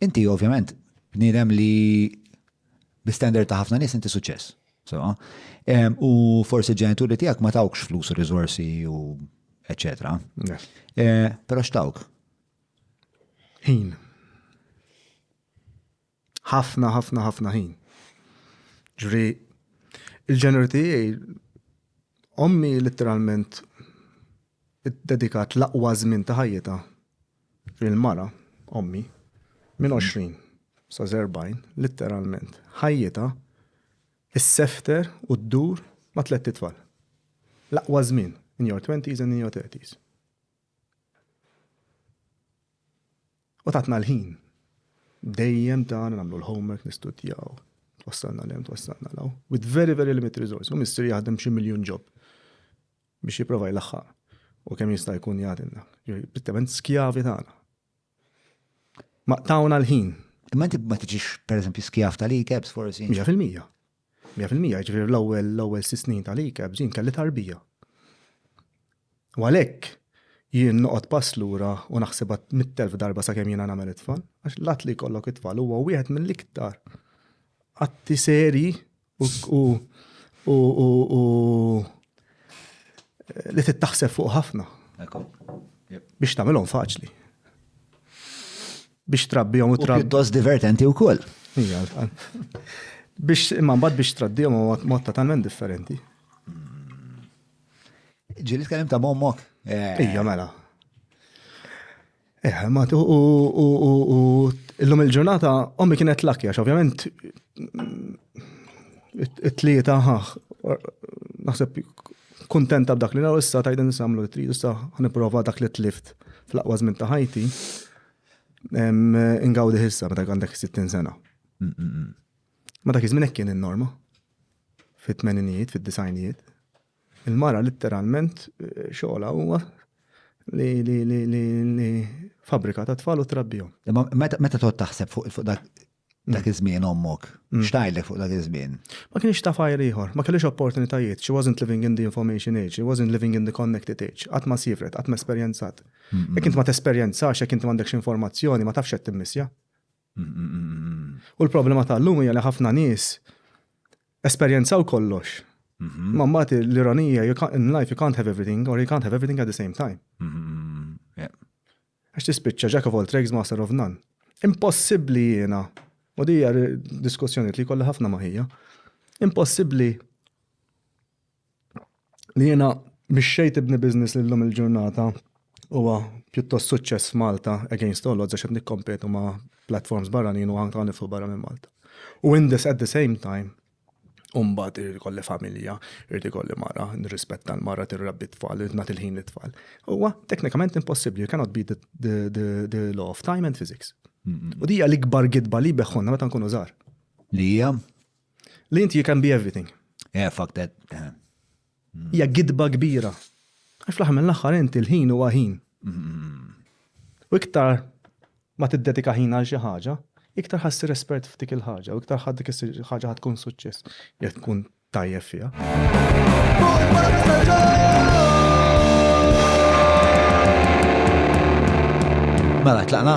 Inti ovvjament bniedem li bi standard ta' ħafna nies inti suċċess. Sewa. Em, U forsi ġenituri tiegħek ma tawkx flus u riżorsi u eċetera. Yes. Eh, Però x'tawk? Ħin. Ħafna, ħafna, ħafna ħin. Ġri, il-ġeneri tiegħi, ommi literalment id-dedikat l-aqwa żmien ta' ħajjita Il-mara, ommi, minn 20 sa 40, litteralment, ħajjitha issefter u ddur ma' tlett itfal. L-aqwa żmien, in your twenties and in your thirties. U tatna l-ħin. Dejjem ta' nagħmlu l-homework, nistudjaw, twassalna l-hemm, twassalna l-hawn. With very, very limited resource. U mistri jaħdem xi miljun ġob. biex jipprova jlaħħaq u kemm jista' jkun jagħtilna. Prittement skjavi tagħna. Ma tawna l-ħin. Imma inti ma tiġix pereżempju skjav tal-ikebs forsi? 100%. 100% ġifieri l-ewwel l-ewwel sis snin tal-ikebs jien kelli tarbija. U għalhekk jien noqgħod pass lura u naħseb mit-telf darba sakemm jiena nagħmel it-tfal, għax l-att li jkollok it-tfal huwa wieħed mill-iktar atti seri u li tittaħseb fuq ħafna. Biex tagħmilhom faċli. Biex trabbihom u trabbi. Pjuttost divertenti wkoll. Biex imma mbagħad biex traddihom u mod totalment differenti. Ġili tkellem ta' mommok. Eh. Ija mela. Eh, ma tu u illum il-ġurnata ommi kienet lakki għax ovvjament it-tlieta ħaħ naħseb kontenta b'dak li naraw issa tajden samlu li tridu issa ħniprova dak li tlift fl-aqwa żmien ta' ħajti. Ingawdi ħissa meta għandek 60 sena. Mm, mm, mm. Ma dak iż-żmien kien in-norma. Fit-tmeninijiet, fid-disajnijiet. Il-mara litteralment xogħolha huwa li li li li li fabrika ta' tfal u trabbihom. Imma meta meta tgħod taħseb fuq fuq dak dak iż-żmien ommok, x'tgħidlek fuq dak iż-żmien? Ma kienx taf għajr ieħor, ma kellhiex opportunitajiet, she wasn't living in the information age, she wasn't living in the connected age, qatt ma sievret, qatt ma esperjenzat. Jekk int ma tesperjenzax, jekk inti m'għandekx informazzjoni, ma tafx x'qed timmissja. U l-problema tal-lum hija li ħafna nies esperjenzaw kollox. Mhm. Ma mbagħad l-ironija in life you can't have everything or you can't have everything at the same time. Mhm. Għax tispiċċa jack of all trades master of none. Impossibbli jiena, u dija diskussjoni li kollha ħafna maħija, impossibbli li jiena mixxejt ibni business li llum il-ġurnata huwa pjuttost suċċess Malta against all odds għax qed nikkompetu ma' platforms barranin u anka nifsu barra minn Malta. U in this at the same time Umbat irrid ikolli familja, irrid ikolli mara, nirrispetta l-mara tirrabbi tfal, irrid nagħti l-ħin lit-tfal. Huwa teknikament impossibbli, you cannot beat the law of time and physics. U dija l-ikbar gidba li beħħonna meta nkunu żgħar. Li hija? Li inti you can be everything. Yeah, fuck that. Yeah. Mm. Hija gidba kbira. Għax fl-aħħar mill-aħħar inti l-ħin huwa ħin. Mm. U iktar ma tiddedika ħin għal xi ħaġa, iktar ħassi respert f'dik il-ħaġa, u iktar ħaddik ħaġa ħad tkun suċċess, jekk tkun tajjeb fiha. Mela, tlaqna?